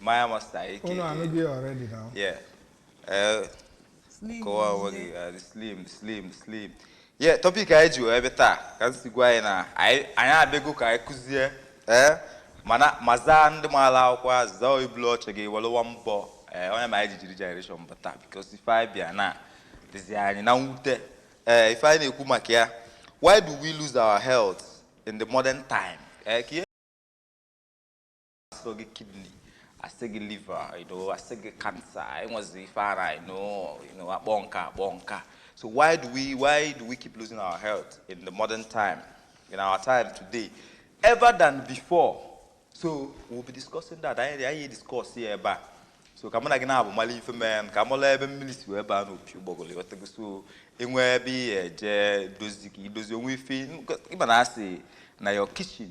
Maya Master aka. Unu anụghị ya already now. Yeah. Uh, slim. Kọwa onwe gị uh, slim slim slim. Yeah, topic anyị ji bịa taa ka m si gwa anyị na anyị abịago ka anyị kụzie ee eh, mana ma zaa ndị maara akwụkwọ azụ zaa ibulu oche gị welụwa mbọ ee eh, onye ma anyị ji jiri generation bata because ife anyị bịa na dịzi anyị na mwute ee eh, ife anyị na-ekwu maka ya why do we lose our health in the modern time? asịrị gị kidney asị gị liver you know asị gị cancer enwezi ife ara you know you know akpọ nka akpọ nka so why do we why do we keep losing our health in the modern time in our time today ever than before so we'll be discussing that anyị anyị discuss ya ebe a so ka mụ na gị nabọ malụ ife mee ka amalụ ebe mmiri si wee baa n'opi ụgbọgụrụ ịghọtago so enwe ebe ihe eje dozi ka idozi o nwe ife ịma na asị na your kitchen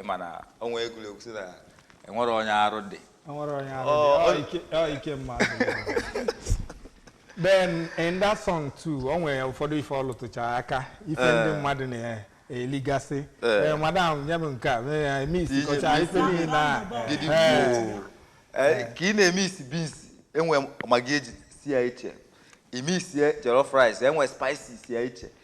ịma na o nwe egwu a gụrụ sị na enwere onye arụ dị enwere onye arụ dị ọ ike mmadụ then in that song too o nwere ụfọdụ ife ọ lụtụchara aka ife eh. ndị mmadụ na-eligasị eh. eh, madam nye m nke a eme isi kọcha ife niile na ka ị na-eme isi beans enwe Maggi eji si ya iche ime isi jollof rice enwe spices ya iche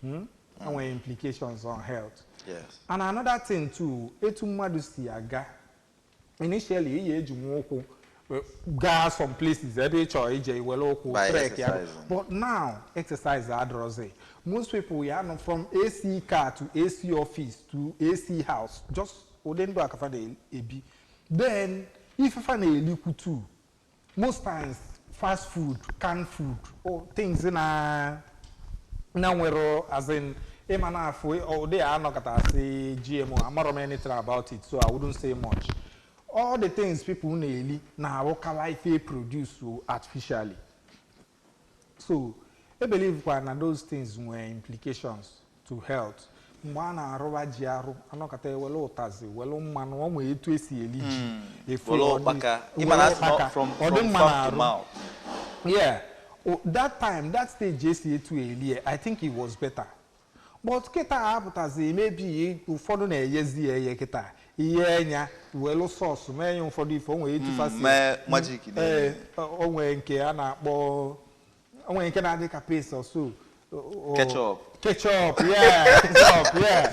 Hmm? enwere implications on health Yes. and another thing too etu mmadụ si aga initially ị ya-eji nwa ụkwụ eh, gaa some places ebe ị chọrọ ije iwere ụkwụ By trek ya exercising. but now exercise adịrọzi most people ya nọ from ac car to ac office to ac house just ụdị ndụ a ka fa na-ebi then ife fa na-elikwu too most times fast food canned food or things na na nwere as in ịma na afụ ụdị a anọkata asị gmo amarọ m anything about it so i wouldn't say much all the things people na-eli na-awụkalị ife e produce artificially So I believe kwa na those things nwere implications to health. Mgbe a na-arụwa ji arụ, anọkata ewere ụtazị, were mmanụ, ọ nwere etu esi eri ji. Hmm. Efu Were ọ dị- ụkpaka. Ị ma na were asị na ụkpaka. from- Ọ dị from mma farm to n'arụ. mouth. Yeah. O- that time, that stage esi etu elie, I think it was better. But kịta a apụtazi maybe ụfọdụ na-eyezi ya eye kịta iyee nya welu sauce mee ya ụfọdụ ife o nwere etu Mm, fa si- mee magic na- Ee, o- o nwere nke a na-akpọ o nwere nke na-adị ka paste or so O- o- Ketchup. ketchup yeah ketchup yeah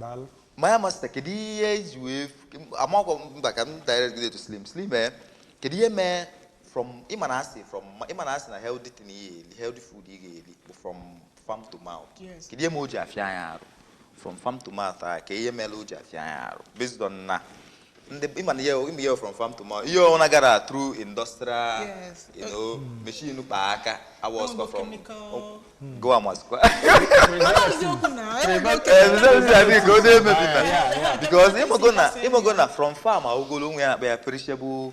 Daalụ. Maya Master, kedu ihe iji wee amakwa mba ka m direct gị to Slim. Slim eh, kedu ihe mee from ịma na asị from ịma na asị na healthy thing ị ga-eri healthy food ị ga-eri bụ from farm to mouth. Yes. Kedu ihe mee o ji afịa anyị arụ from farm to mouth kedu ihe mere o ji afịa anyị arụ based on na ndị ịma na ihe ịma ihe from farm to mouth ihe ọbụla gara through industrial Yes. you know machine kpa aka a wụsịkwa from go amazikwa eziokwu na enwere oke ka ọ na-emebi na because ịmago na ịmago na from farm agogolo o nwe ihe a na-akpọ ya perishable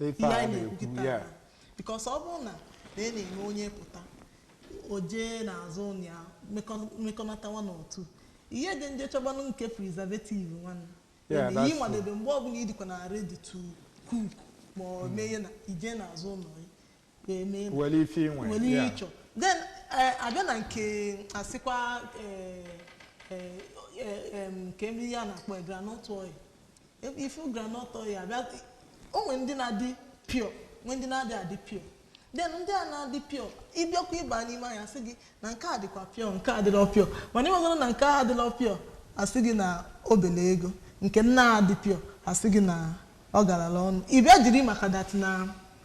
Ife ihe a anyị na-ekwu na-ekwu, kịta yeah. na- because ọ bụrụ na na ị na-eme onye pụta o jee n'azụ ụlọ ya mekọ- mekọnata one or two ihe dị nje chọgbanụ nke preservative nwanne Yeah, Ebe that's ihe ịmadebe mgbe ọbụla ị dịkwa na ready to cook ma ọ mee ihe na ije n'azụ ụlọ ya ga-eme ebe were ife inwe nwere ihe yeah. ịchọ then eh, abịa na nke asịkwa eh, eh, eh, em, kee ihe a na-akpọ ya groundnut oil Ebe ị fụ groundnut oil abịa o nwere ndị na-adị pure nwee ndị na-adị adị pure then ndị a na-adị pure ịbịakwa ịba n'ime ahịa sị gị na nke a dịkwa pure nke a dịrọ pure mana ịmagoro na nke a dịrọ pure asị gị na obele ego nke nna adị pure asị gị na ọ galala ọnụ ị bịa jiri maka that na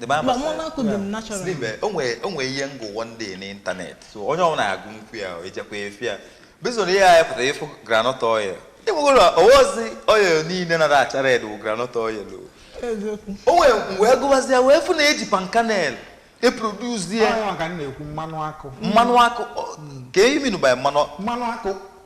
The man Mba, was mụ saying- na-akụ dị m natural. Slim, eh, o nwere o nwere ihe m gụ one day n'internet so onye ọbụla na-agụ nkwu ya ejekwa efi ya based on ihe a pụtara ị fụ groundnut oil ịnwegoro ọ wụzi oil niile na-acha red wụ groundnut oil o. eziokwu o nwere m wee gụbazi ya wee fụ na e ji palm kernel eproduce ya Ọnwa ka m na-ekwu mmanụ akụ mmanụ akụ o- ka ị mean by mmanụ mmanụ akụ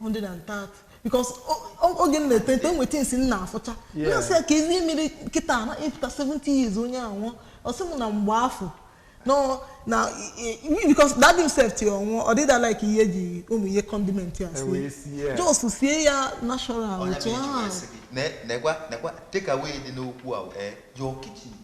130 because oge m na-eto eto o nwe things m na-afụcha na-asị ya kezi ihe mere kịta na after 70 years onye anwụọ ọ sị m na mgbe afọ no na because that himself ti ọnwụ ọ dịda like ihe ji ụmụ ihe condiment ya sie just sie ya natural otu ahụ. nekwa nekwa take away dị n'okwu a eh, your kitchen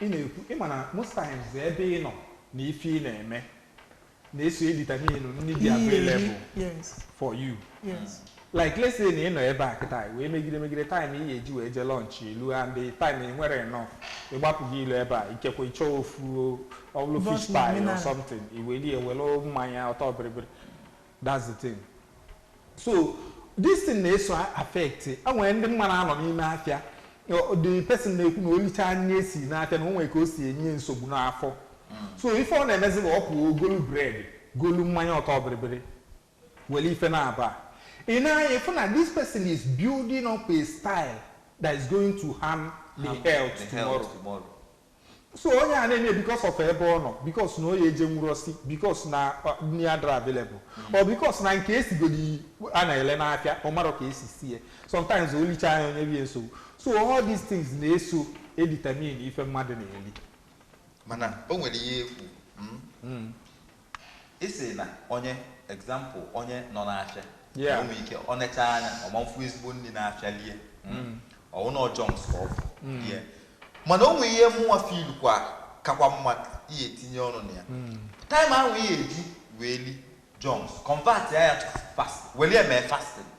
Ị na-ekwu, ị ma na most times ebe ị nọ na ife ị na-eme na-eso edetermine nni dị available yes for you yes like let's say na ị nọ ebe a kịta wee megide megide time ị ga-eji wee jee lunch elu and the time ị nwere enough ị gbapụ gị ilu ebe a ikekwe ị chọọ ofu ọ bụlụ But fish pie or something i welie were mmanya ọtọ bịrịbịrị That's the thing. So this thing na-eso affect e nwere ndị m ma na-anọ n'ime afịa the person na-ekwu na o licha nni e si n'afịa na o nwere ka o si enye nsogbu n'afọ hmm. so ife ọ na-emezi bụ ọ pụọ o golu bread golu mmanya ọtọ bịrịbịrị were ife na-aba ị nee anya ị fụ na this person is building up a style that is going to harm the health tomorrow So onye a na-eme because of ebe ọ nọ, because na onye ejenwụrọ si, because na nni adịrọ available, or because na nke e sigodi a na-ele n'afịa ọ marọ ka e si sie. Sometimes o lichaa ya o nyebe ya nsogbu. So all these things na-eso edetermine ife mmadụ na-eli. mana o nwere ihe ekwu Ị sị na onye, example, onye nọ n'afịa Yeah. o nwe ike ọ nechaa anya ọ ma afụ ezigbo nni n'afịa lie mm, ọ wụ na ọ junks ka ọ fụ lie mana o nwe ihe mụnwa feel kwa kakwa mma ị ya-etinye ọnụ na ya time ahụ ị ya-eji wee li junks convertia ya to fast wele ya mee fasting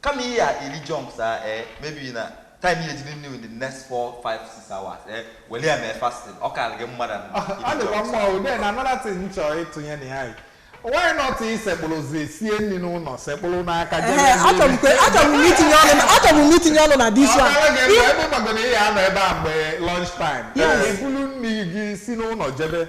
Kama ị ya ili junks a ee eh, maybe na time ihe jiri new in the next 4 5 6 hours ee eh, wele ya mee fasting ọ karịrị gị mmadụ ọ dịkwa mma o then another thing m chọrọ ịtụnye na ya why not ị sekpụlụzi sie nni n'ụnọ sekpụlụ n'aka achọbụ m itinye ọnụ na this one ebe gbagoro ihe anọ ebe a mgbe lunch time ibulu nni gị si n'ụnọ jebe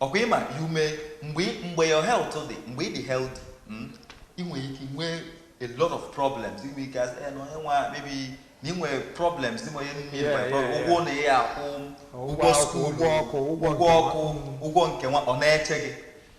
ọkwa ịma you may mgbe mgbe your health dị mgbe ị dị healthy mm, ị nwere ike nwee a lot of problems ị nwere ike asị "Eh, na onye nwa maybe na ị nwere problems dị ma onye nne Yeah, nwere problem. yeah, yeah. ụgwọ na ya akwụ Ụgwọ ụgwọ akwụkwọ, school ụgwọ ọkụ, ụgwọ ụgwọ nke ọkụ nwa. ụgwọ nke nwa ọ na-eche gị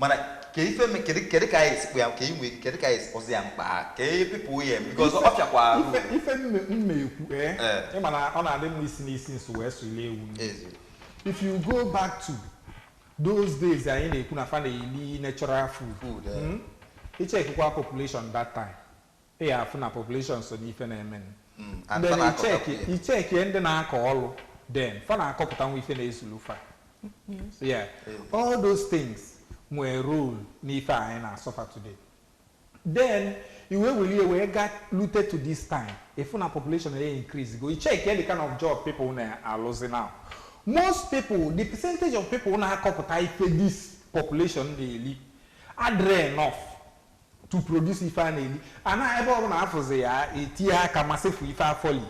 mana ka ife me- kedu kedu ka anyị esi kpọ ya ka inwe kedu ka anyị esi kpọzi ya mkpa ka people ya-eme because ọ fịakwa arụ ife ife m na- m na-ekwu ee Eh. ị ma na ọ na-adị mma isi n'isi nso wee sụ ile ewu nri. Ezi. if you go back to those days anyị na-ekwu na fa na-eli natural food Food, eh. Mm? ị check kwa population that time Ị ya afụ na population so n'ife na-emenụ. Mm, and Then fa na-akọtakwu ị check ya. ị checkie ndị na-akọ ọlụ then fa na-akọpụtanwu ife na-ezulu fa. Yeah. All those things nwere role n'ife a anyị na-asuffer today. Then ị wee welie wee ga lute to this time ị fụ na population na increase go ị check the kind of job people na-alụzi now. Most people the percentage of people na-akọpụta ife this population na-eli adịrọ enough. to produce ife a na-eli ana ebe ọbụla afụzi ya etinye aka ma sefu ife a fụ lie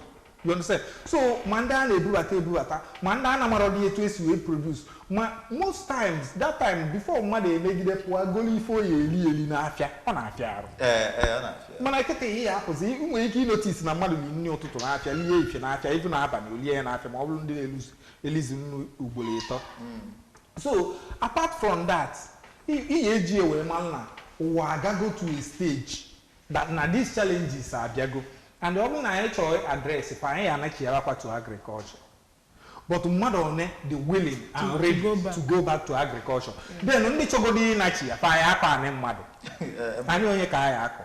you understand so ma ndị a na-ebubata ebubata ma ndị a na-amarọdị etu esi wee produce ma most times that time before mmadụ emegide pụọ golo ife ọ ya-eli eli n'afịa ọ na-afịa arụ ee ee ọ na-afịa mana kịta ị ya-afụzi ị nwere ike ịnotice na mmadụ na nri ụtụtụ n'afịa lie efifie n'afịa even abalị o lie ya n'afịa ma ọ bụrụ ndị na-elizi elizi nni ugboro ịtọ so apart from that Ị ya eji wee malụ na ụwa agago to a stage that na these challenges abịago and ọ bụrụ na anyị chọọ address fa anyị ya anachighalụ fa to agriculture but mmadụ one dị willing and ready to go back to agriculture then ndị chọgodo ịnachigha fa ya-akọ anị mmadụ anị onye ka a ya-akọ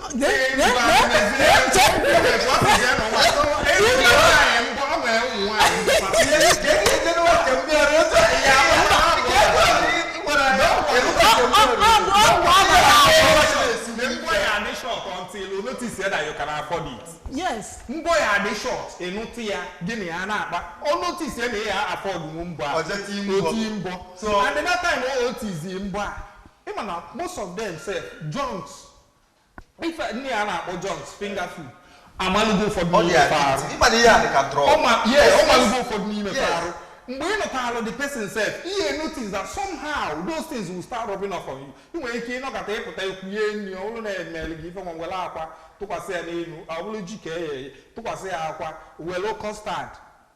yes mbọ ya adị short ị nụta ya gị na ya na-akpa ọ notice ya na ya afford mbọ a o ti mbọ and that time o tizi mbọ a ị ma na most of them sef junks ife ndị a na-akpọ junks finger food amalụgo ụfọdụ ndị n'ime fa arụ addicted ị ma na ihe a dị ka drug ọ ma yeah ọ malụgo ụfọdụ n'ime fa Yes. arụ mgbe ị nụtara the person sef ị ya notice that somehow those things will start rubbing off on you ị nwere ike ịnọkata ị pụta e kunye nri ọ bụrụ na e mere gị ife nwa were akwa tụkwasị ya n'elu ọ bụrụ ji ka e ye tụkwasị ya akwa were custard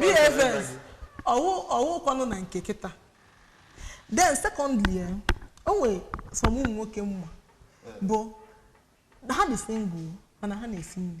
bfs ọ wụkwanụ na nke kịta then secondly eh, o nwere some ụmụ nwoke m ma bụ ha dị single mana ha na-esi nri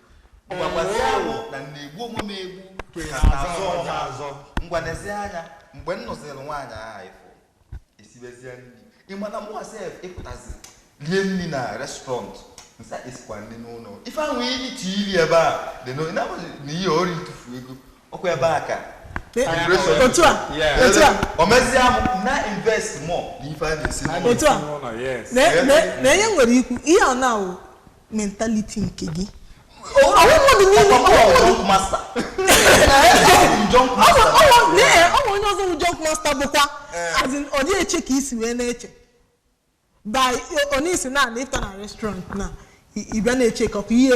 gwagwazie mụ na na-egbu onwe m egbu ka m na-azọ ọzọ azọ ngwa nezie anya mgbe m nụziri nwaanyị ahụ ị fụ o sibezie nri ị ma na mụa sef ịpụtazi rie nri na restaurant m sị e sikwa nri n'ụlọ ife ahụ iji ti iri ebe a dị n'oyi na na ihe ori ntụfu ego ọkwa ebe a ka otu a otu a o mezie m na-invest more n'ife a na-esi n'ụlọ otu a na na enye nwere ikwu ihe ọ na-awụ mentality nke gị ọ wụ mmadụ niile ọ wụ onye ọzọ bụ junk master bụkwa ọ dịghị eche ka i si wee na-eche by onye isi na ị fụta na restaurant na ị bịa na-eche ka ọkụ ihe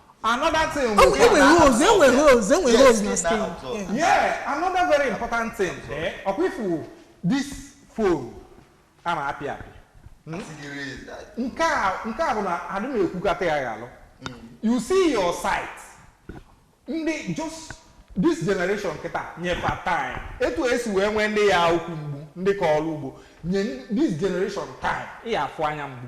Another thing we Oh, get enwere that- holes, enwere holes, enwere Yes, holes na skin now, so- skin. Yeah, another very important thing. Eh, ọkwa ị fụ this phone a na-apị apị. Nke a nke a bụ na adị m ekwukata ya ghalụ. You see your sight. Ndị just this generation kịta nye fa time. Etu e si wee nwee ndị ya ukwu mgbu ndị kọlụ ugbo nye this generation time ị ya afụ anya mgbu.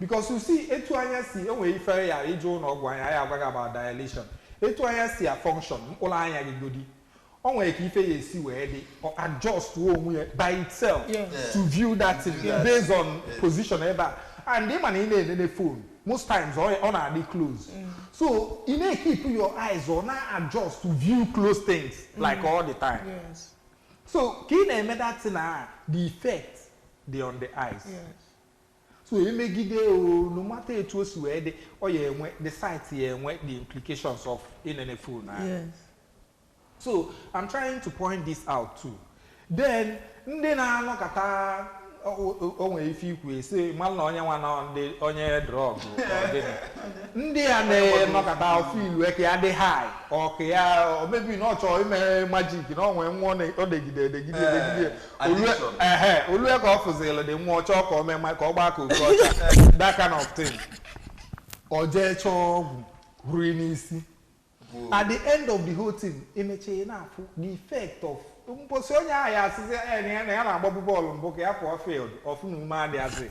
Because you see, etu anya si o nwere ife ya ị je ụlọ ọgwụ anya a ya agwa gị about dilation. Etu anya si a function mkpụrụ anya gị godi. O nwere ka ife a si wee dị or adjust wo onwe ya by itself Yeah. Yeah. to view that thing Yeah. based on Yeah. position ebe a. And ị ma na ị na-enene phone most times ọ ọ na-adị close. So ị na-ekeep your eyes ọ na-adjust to view close things like all the time. Yes. So ka ị na-eme that thing a the effect dị on the eyes. Yes. so emegide o no matter etu o si wee dị ọ ya enwe the side ya enwe the implications of inene phone ahụ yes so i'm trying to point this out too then ndị na-anọkata o- o- o nwere ife i kwu e si malụ na onye nwa na onye drug ndị a na-anọkata ọ feel ka ya dị high ọ ka ya maybe na ọ chọrọ ime magic na ọ nwee nwa ọ na- ọ degide edegide edegide o lue ka ọ fụzi lady nwa ọ chọọ ka o mee ma ka ọ gbaa ka oke ọcha that kind of thing ọ jee chọọ ọgwụ rue n'isi at the end of the whole thing ị mechaa ị na-afụ the effect of mposi onye ahụ ya asịzi na ya na-agbabu bọọlụ mbụ ka ya pụọ field ọ fụ na ume adịghazị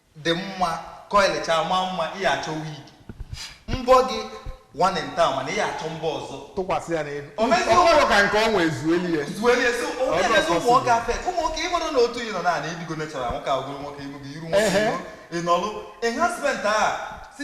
dị mma coil chaa maa mma ị ya achọ wig mbọ gị one in town mana ị ya achọ mbọ ọzọ tụkwasị ya n'elu O mezie ọ bụrụ ka nke ọ nwee zueli ya zuere ya so Ọ onye dị na-ezi ụmụ nwoke affect ụmụ nwoke ị mara na otu ị nọ na ị dịgo natural nwoke agụrụ nwoke ịgụgo iru nwoke Ehe. ịnọlụ enhancement a si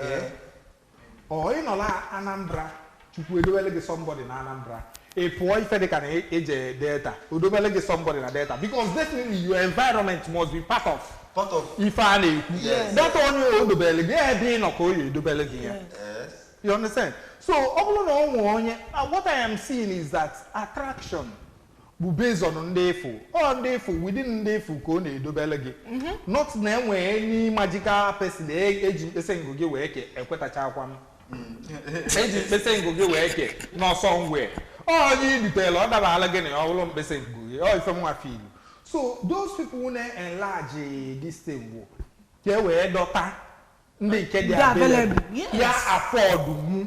Ee. ọ ị nọla anambra chukwu edobele gị somebody na anambra ị pụọ ife dịka na e- eje delta o dobele gị somebody na delta because definitely your environment must be part of part of ife a na-ekwu Yes. data onye o dobele gị ebe ị nọ ka ọ ya edobele gị ya yes you understand so ọ bụrụ na ọ nwee onye uh, what i am seeing is that attraction bụ based on ndị ị fụ ọ ndị ị fụ within ndị ị fụ ka ọ na-edobele gị not na enwe any magical person e- eji mkpịsị ngụ gị wee kee ekwetachakwa m eji mkpịsị ngụ gị wee kee n'ọsọ nwee onye idutela ọ dabala gị na ya ọ bụrụ mkpịsị ngụ gị ọ ife mụwa feelu so those people na-enlarge this thing bụ ka e wee dọta ndị nke dị Ndị available available, yes. ya afford mu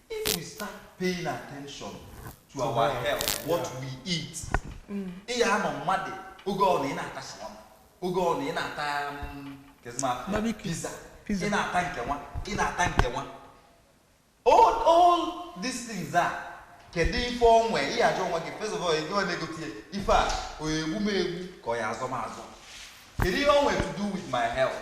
If we start paying attention to our health, what we eat, ị ya anọ mmadụ oge ọ na ị na-ata shawarma, oge ọ na ị na-ata mm, kedu m afa? Barbecue. pizza, Pizza. ị na-ata nke nwa, ị na-ata nke nwa. All, all these things are kedu ife onwe ị ya ajụ onwe gị first of all ego ọ na-egote ya ife a ọ ya egbu m egbu ka ọ ya azọ m azọ kedu ihe o nwe to do with my health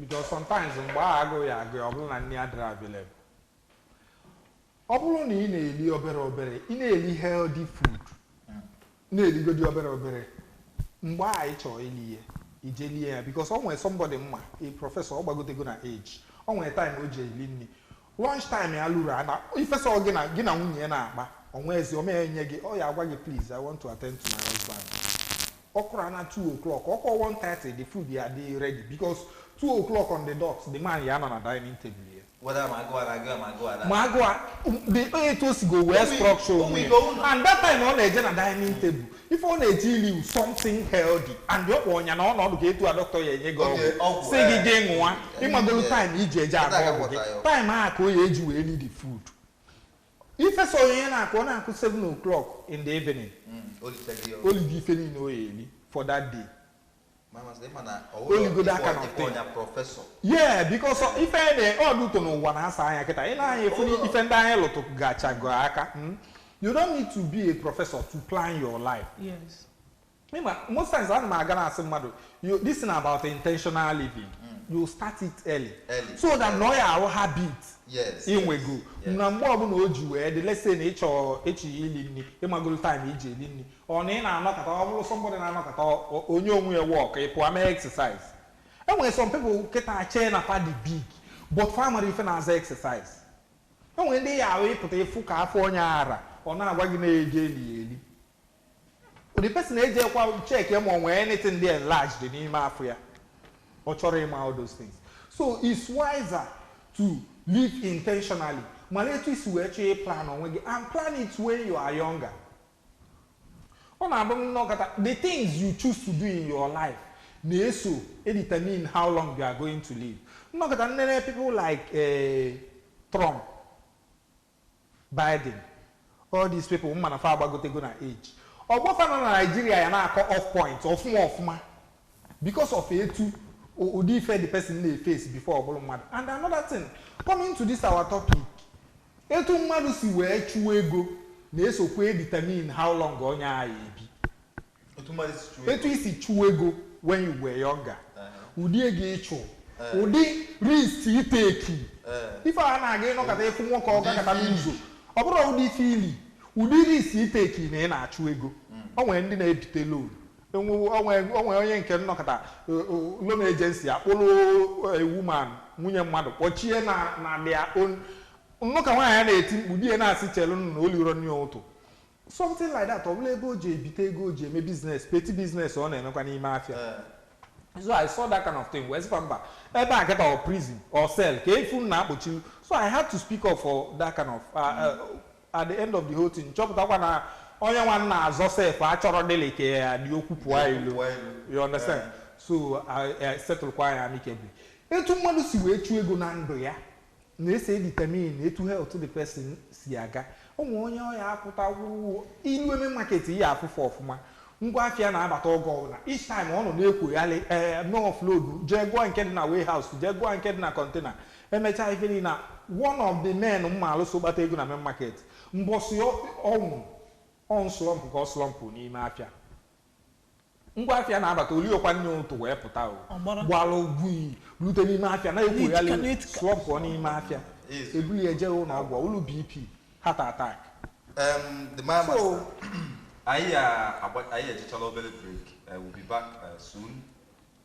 Because sometimes mgbe ahụ agụụ ya agụ ya ọ bụrụ na nni adịrọ available. Ọ bụrụ na ị na-eli obere obere, ị na-eli healthy food, na-eligodi obere obere, mgbe ahụ ị chọrọ ili ya, i je lie ya because o nwere somebody m ma, a professor, ọ gbagotego na age. O nwere time o ji eli nni. Lunch time ya luru ana ifesa ọ gị na gị na nwunye ya na-akpa ọnwa ezi o mee nye gị ọ ya agwa gị please I want to attend to my husband ọ kụrụ ana 2 o'clock ọ kụọ 1:30 the food ya dị ready because 2 o'clock on the dot the man ya nọ na dining table ya whether ma agụụ a na-agụ ya ma agụụ a na ma agụụ a the etu o sigo wee structure onwe ya and that time ọ na-eje na dining table ife ọ na-eje ili something healthy and ọ kpọ ọnya na ọnọdụ ka etu a dọkịta ya enye gị Oge ọgwụ ọgwụ, sị gị eh, gị ṅụwa eh, ịmagolu eh, time i ji eje agba anaghị ọgwụ gị agwọta ya. time a ka o ya eji wee need food ifesa onye na-akụ ọ na-akụ 7 o'clock in the evening olise gị o ligo ife niile o ya eli for that day oligodo aka na ọtọ ya yeah because ife na ọ dị ụtọ n'ụwa na-asa anya kịta ị na-anya efu ife ndị anyị lụtụgachago aka hmm? you don't need to be a professor to plan your life yes. ịma most times ana m aga na-asị mmadụ this thing about intentional living mm. you start it early, early. so that na ọ ya arụ habit i nwego na mgbe ọbụla o ji wee dị let's say na ị chọ eje ili nri ịmagolo time i ji eli nri Ọ na ị na-anọkata ọ bụrụ somebody na-anọkata o nye onwe ya walk ị pụọ mee exercise. E nwere some people kịta chee na fa dị big but fa amarọ ife na-aza exercise. E nwere ndị ya awụ ị pụta ị fụ ka afọ onye a ra ọ na-agwa gị na-eje eli eli. The person ejekwa check ya ma ọ nwee anything dị enlarged dị n'ime afọ ya. Ọ chọrọ ịma all those things. So it's wiser to live intentionally malụ etu i si wee chọọ ịplan onwe gị and plan it when you are younger. Ọ na-abụ m nọkata, the things you choose to do in your life na-eso determine how long you are going to live. M nọkata nenee people like eh, Trump, Biden, all these people m ma na fa agbagotego na age. Ọgbọ fa nọ na Nigeria ya na-akọ off point ọfụma ọfụma because of etu o- ụdị ife the person na-eface before ọ bụrụ mmadụ. And another thing, coming to this our topic, Etu mmadụ si wee chụọ ego na-esokwa edetermine how long onye a ya ebi. Otu mmadụ si chụọ Etu ego. i si chụọ ego when you were younger, Ehe. ụdị ego ị chụ, Eh. ụdị risk iteki. Eh. Ife a na-aga ị nọkata ị fụ nwoke ọ Ụdị gakata ife i li. n'ụzọ. Ọ bụrọ ụdị ife i li, ụdị risk ị take na ị na-achụ ego. O nwere ndị na-ebite loan Enwewo o nwe o nwe onye nke nọkata eh, o- loan agency akpụlụ eh, woman nwunye mmadụ kpọchie na na their own m nụ ka nwaanyị a na-eti mkpu di ya na-asị chelu nụ na o lirọ nri ụtụtụ something like that ọ bụla ebe o ji ebite ego o ji eme business petty business ọ na-emekwa n'ime afịa so i saw that kind of thing wee sịkwa mba ebe a kịta ọ prison or cell ka efu m na-akpọchi so i had to speak up for that kind of uh, uh, At the end of the whole thing, chọpụtakwa na onye nwa m na-azọ sef achọrọdịlị ka ya dị okwu pụọ Okwu ilo. pụọ ilo. You understand? Eh. So settlekwa ya amicably. Etu mmadụ si wee chụọ ego na ndụ ya na-eso determine etu health the person si aga. O nwere onye ọ ya apụta wụwụ ilu eme market ya afụfụ ọfụma. Ngwa afịa na-abata oge ọbụla. Each time ọ nọ na-ekwogharị eh, mee offload, jee gụọ nke dị na warehouse, jee gụọ nke dị na container. Emechaa ife niile a, one of the men m maalụ so kpata ego na main market, mbọsị ọ nwụrụ, ọ nslump ka ọ slump n'ime afịa. Ngwa afịa na-abata, o riekwa nri ụtụtụ wee pụta o, gbalụ gwii rute n'ime afịa na-ekwoghalị, slump n'ime afịa. E buru ya jee ụlọọgwụ, ọ wụrụ BP, heart attack. Um, the man So, master. Anyị a- agba- anyị ejechala obere break. Uh, we'll be back uh, soon.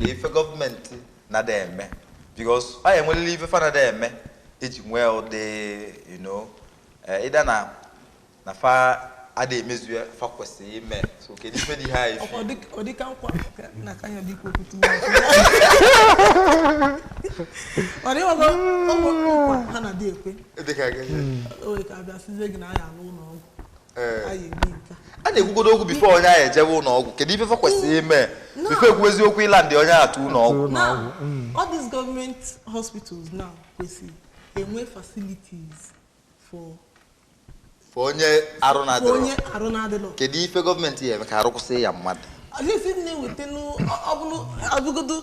na ife gọọmenti na-ada eme because ọ ya enwelele ife fa na-ada eme eji nwee ụdị you know eh, either na na fa ada emezu ife fa kwesịrị ime so kedu ife dị high Ọ dị- ọ dịka nkwa ka- na ka ya dị ikwu okwu tuwo. Ọ dị ọzọ ọ bụ nkwa ha na-adị ekwe dịka gị o nwere ka abịa seize gị na aya n'ụlọ ọgwụ a na-ekwugodo okwu before onye ahụ ejewe ụnọ ọgwụ kedu ife fa kwesịrị ime before e kwuezi okwu ịland onye a to ụnọ ọgwụ mm. all these government hospitals now kwesịrị enwe facilities for for onye arụ na-adịrọ kedu ife gọọmenti ya eme ka arụ kwụsị ya mmadụ ọ bụrụ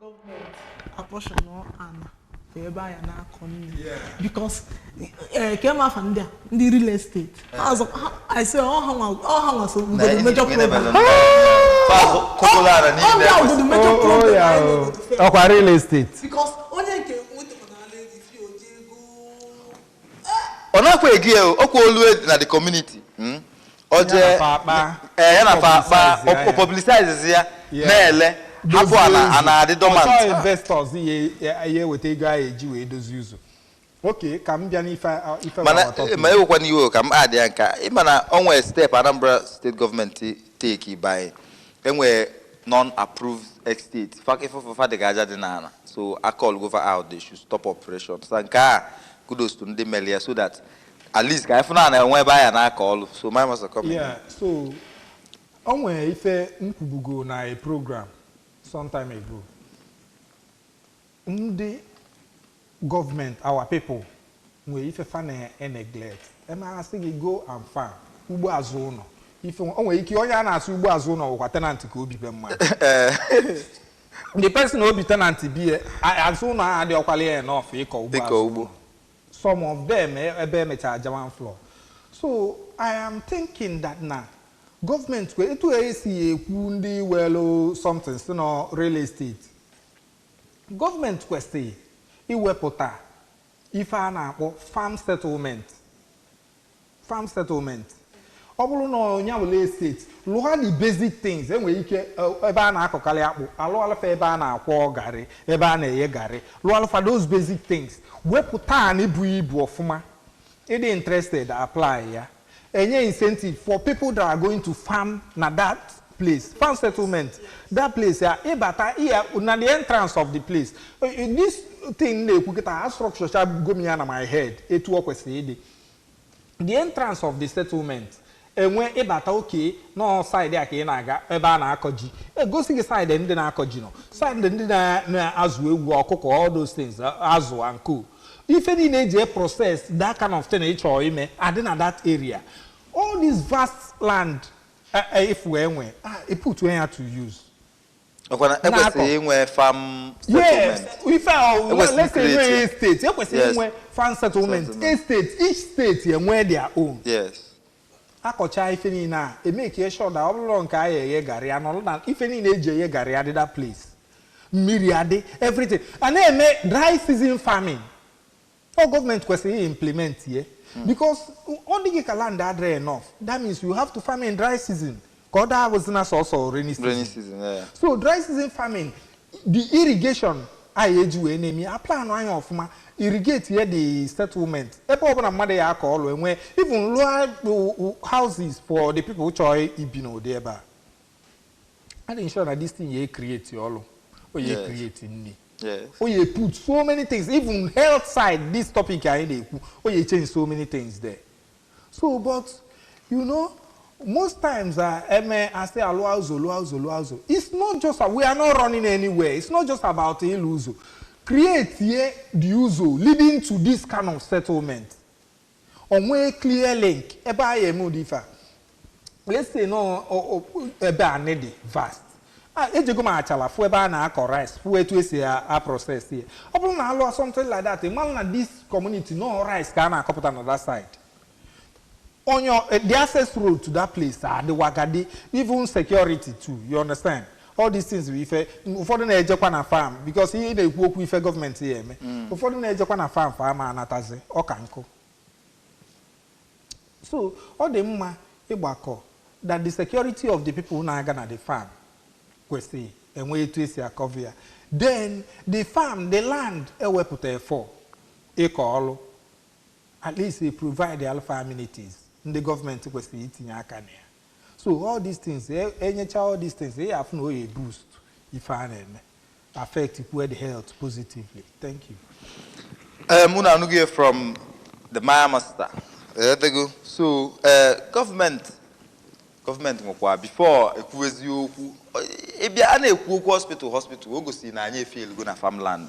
gọọmenti apportion ana bụ ebe a ya na-akọ nni because ke ma afa ndị a ndị real estate ise ọha nwa so bụgodo major problem bụgodo major problem ọkwa real estate because onye nke nwetara n'ala as if o ji ego ọ nakwa egi ya o ọkwa olu edi na the community mm. ọ Ya jee na fa akpa, ee ya na fa akpa publicize ya, o- o ya. publicize ya Yeah. na-ele hapụ ana, ana adị dormant ọchọ investors ya- ya ya eweta ego a eji wee dozie ụzọ okay ka m bịa n'ife a- ife mana our topic. ma ewekwana iwe ka m addie nke a ịma na o nwee step Anambra state gọọmenti take by E nwere non-approved estate. Fa ife fa dị ka aja dị n'ana. So a callgo fa out, they should stop operation. So nke a kudos to ndị melu ya so that at least ka anyị fụna na enwe ebe anyị na-akọ ọlụ. Government must come in. Yeah, so o nwere ife m kwubugo na a program sometime ago. Ndi government our people nwe ife fa na eneglect e mee a sị gị go and farm ugbo azụ ụnọ ife nwe- o nwere ike onye a na-asị ugbo azụ ụnọ wụkwa tenant ka o bi be mmadụ the person o bi tenant be ya, a- azụ ụnọ ahụ adịọkwala ya enough ịkọ ugbo azụ ụnọ. Ịkọ ugbo. some of them e- ebe emechara German floor so i am thinking that na gọọmenti kwe- etu esi ekwu ndị welu something si na real estate Government kwesịrị iwepụta ife a na-akpọ farm settlement, farm settlement. Ọ bụrụ na ọ ya were estate, lụọ the basic things. E nwere ike ebe a na-akọkarị akpụ, a lụọrọ fa ebe a na-akwọ garị, ebe a na-eghe garị, lụọrọ fa those basic things. Wepụta anị buru ibu ọfụma, Ị dị interested, apply ya. E nye incentive for people that are going to farm na that place, farm settlement, that place ya, ị bata ya na the entrance of the place. Eh, eh, This thing m na-ekwu kịta a structure chago m ya na my head etu o kwesịrị ịdị. The entrance of the settlement, E nwee, ị bata, okay, na ọ side a ka ị na-aga, ebe a na-akọ ji. E gosi gị side ndị na-akọ ji nọ, side ndị na, na-azụ ewu, ọkụkọ, all those things, azụ and co. Ife niile e ji e process that kind of thing ị chọrọ ime adị na that area. All this vast land e, e, ị fụ e nwee, ah, e putue ya to use. Ọ kwa na Na-akọ. ekwesịrị inwe farm yes settlement. ife a ọ- Ekwesịrị let's say create nwee ya. state kwesịrị Yes. inwe farm settlement Settlement. estate each state enwee their own Yes. a kọcha ife niile a e make sure that ọ bụrụ nke a ya-eghe garị ya nọrọ na ife niile e ji eghe garị adị that place mmiri adị everything a na-eme dry season farming Ọ government kwesịrị i implement ya because ọ dịghị ka land adịrọ enough that means you have to farm in dry season ka ọ daa abụzina sọsọ rainy season Rainy season, yeah, yeah. so dry season farming the irrigation a ya-eji wee na-eme ya a plan anị ọfụma irrigate ya the settlement ebe ọbụla mmadụ ya-akọ ọlụ enwe even lụọ houses for the people chọọ ibi n'ụdị ebe a a na-ensure na this thing ya create ọrụ ọ ya Yes. create nri Yes. ọ ya put so many things even health side this topic anyị na-ekwu ọ ya change so many things there so but you know most times uh, e mee a sị a lụọ ụzọ lụọ ụzọ lụọ ụzọ it's not just we are not running anywhere it's not just about ịlụ ụzọ create ye the ụzọ leading to this kind of settlement O nwee clear link ebe a ya eme ụdị ife a. Let's say na ọ- ọ- ọ- ebe anị dị vast. A, ejego m Achalla fụ ebe a na-akọ rice fụ etu e si a a process ya. Ọ bụrụ na a lụọ something like that, ị mara na this community na ọ rice ka a na-akọpụta na that side. onye ọ- eh, the access road to that place adị well guarded even security too you understand all these things bụ ife ụfọdụ na-ejekwa na farm because ị na-ekwu okwu ife government ya eme mm. ụfọdụ na-ejekwa na farm fa ama anatazi ọka nkụ so ọ dị mma ịgbakọ that the security of the people na-aga na the farm kwesịrị inwe etu e si a cover ya then the farm the land e wepụta for ịkọ ọlụ at least e provide-ara fa amenities ndị government kwesịrị itinye aka na ya so all these things enyecha e all these things ị afụ na ọ ya-eboost ife a na-eme affect kwue the health positively thank you um, unu anụgo ya from the maya master edego so uh, gọọmenti gọọmenti nwekwa before ekwu eziokwu a bịa a na-ekwu okwu hospital hospital o gosi na anyị efailgo na farmland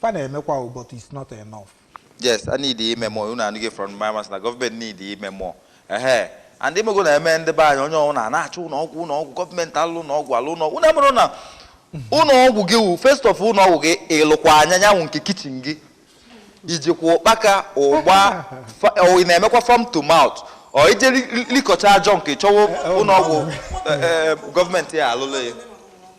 Fa na-emekwa o but it's not enough. Yes, a need ime more. Unu anụgo ya from my master na gọọmenti need ime more. Ehe. And imego na eme ndị be anyị onye ọbụla na-achọ ụlọ ọgwụ ụlọ ọgwụ gọọmenti alụ ụlọ ọgwụ alụ ụlọ ọgwụ. Unu amarọ na ụlọ ọgwụ gị wụ first of all ụlọ ọgwụ gị ịlụkwa anya nyanwụ nke kitchen gị ijikwa ụkpaka ụgba fa- ọ ị na-emekwa farm to mouth or i je li- likọcha junk ị chọwa ụlọ ọgwụ eh, eh, gọọmenti ya alụla ya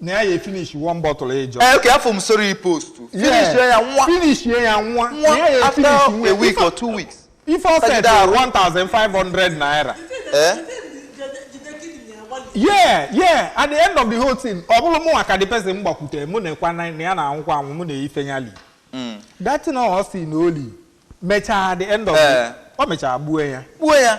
na ya ya finish one bottle ịjọ eh, okay afọ m sorry post finish ya nwa finish ya nwa nwa after a week or two weeks ife ọ set 1500 naira eh yeah yeah at the end of the whole thing ọ bụrụ mụwa ka the person gbakwutere mụ na-ekwu na ya na-anwụkwa anwụ mụ na-eyife ya li hmm. that thing ọ sị na o li mechaa the end of the eh. ọ mechaa gbuo ya gbuo ya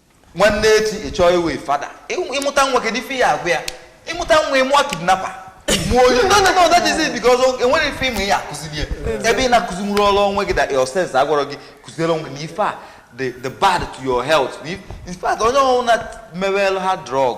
nwanne echi ị chọọ ịwụ fada Ị- ị mụta nwa kedu ife ị ya-agwa ya ị mụta nwa ị mụọ kidnapper mụọ onye no no no that is it because o- o nwerọ ife ị ma ị ya-akụziri ya ebe ị na-akụzinwurọrọ onwe gị that your sense agwarọ gị kụziere onwe gị na ife a dị dị bad to your health na if- in fact onye ọwụna mewelụ hard drug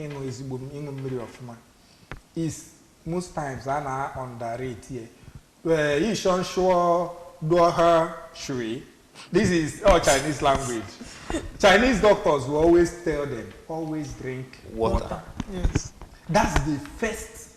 Ịṅụ ezigbo m ịṅụ mmiri ọfụma is most times a na underrate ye. Eh, yi shọn shụọ dụọ ha shui. This is all Chinese language. Chinese doctors will always tell them always drink water. water. Yes. That's the first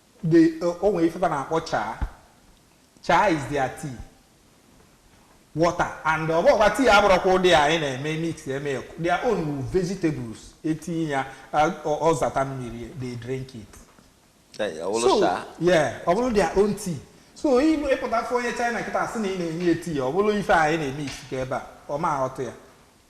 The, uh, o nwere ife fa na-akpọ chaa chaa is their tea water and ọ bụkwa tea abụrọkwa ụdị anyị na-emix eme their own wu vegetables etinye ya ọ zata mmiri they drink it so yeah ọ bụrụ their own tea so ị pụta fụ onye China kịta asị na ị na-enye ya tea ọ bụrụ ife anyị na-emix ka ebe a ọ ma aghọta ya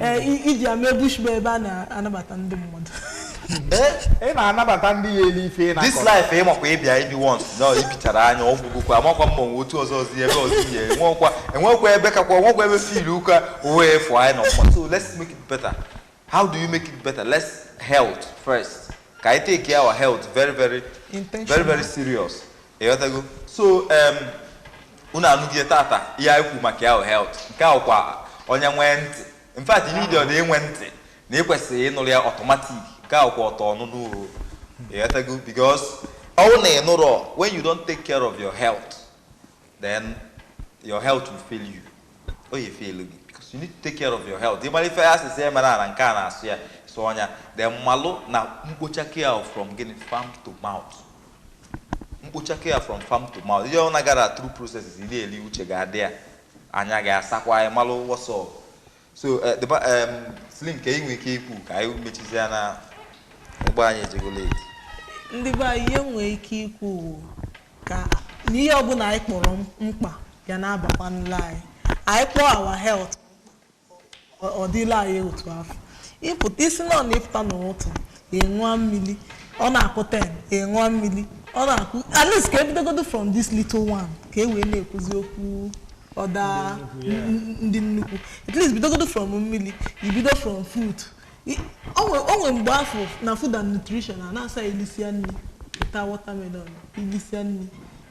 Ee, i- iji ya mee bush bar ebe a na-anabata ndị mmadụ ị na-anabata ndị ya-eli ife ị this na-akọ life ị makwa a bịa ebi once na i bichara nya ọ gwụgokwa amakwa ma o nwe otu ọzọ ọzi ebe ọzi ya enwekwa enwekwa ebe kakwa enwekwa ebe fil ụka uwe efu anyị nọ mma so let's make it better how do you make it better let's health first ka anyị take our health very very very Intentional. very serious ịghọtago so em unu anụgo ya tata ihe anyị kwu maka our health nke a kwa onye nwe ntị in fact ị needịrọdị inwe ntị na ị kwesịrị ịnụrụ ya automatic nke a kwa auto ọnụnụ o ịghọtago because ọ wụ na ị nụrụ when you don't take care of your health then your health will fail you o ya fail gị because you need to take care of your health ị mara ife a sị sị emena nke a na-asọ ya sọọ nya then malụ na mkpocha care from gịnị farm to mouth mkpochake ya from farm to mouth ihe ọ nagara through processes ị na-eli uche ga-adị ya anya ga-asakwa anyị malụ what's up so eh, the ba- em, slim ka ị nwee ike ikwu ka anyị mechizie ya na ụgbọ anyị ejego late ndị be anyị ihe nwee ike ikwu wu ka na ihe ọbụla anyị kpọrọ m- mkpa ya na-abakwanụla anyị anyị kpọọ our health Ọ- ọ dịla anyị otu afọ isi na ọ na ịpụta n'ụtụtụ ịṅụọ mmiri ọ na-akụ 10 ịṅụọ mmiri ọ na-akụ at least ka e bidogodo from this little one ka e wee na-ekwuzi okwu other n- n- ndị nnukwu at least bidogodo from mmiri ibido from food I- o nwe- o nwe mgbe afụ na food and nutrition a na-asị ilisia nri ịta watermelon ilisia nri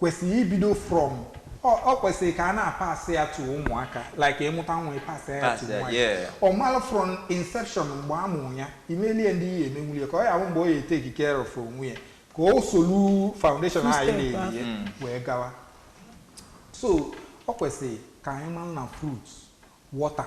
kwesịrị ibido from ọ ọ kwesịrị ka a na-apasị ya to ụmụaka like ịmụta nwa ịpasị ya to Pass ya, nwa ya. yeah. ọ mara from inception mgbe a mụrụ ya imelie ndị ị ya-emenwuli ya ka ọ ya-abụ mgbe ọ ya-eteki care of onwe ya ka o solu foundation Two anyị step layili ya wee gawa so ọ kwesịrị ka anyị mara na fruit water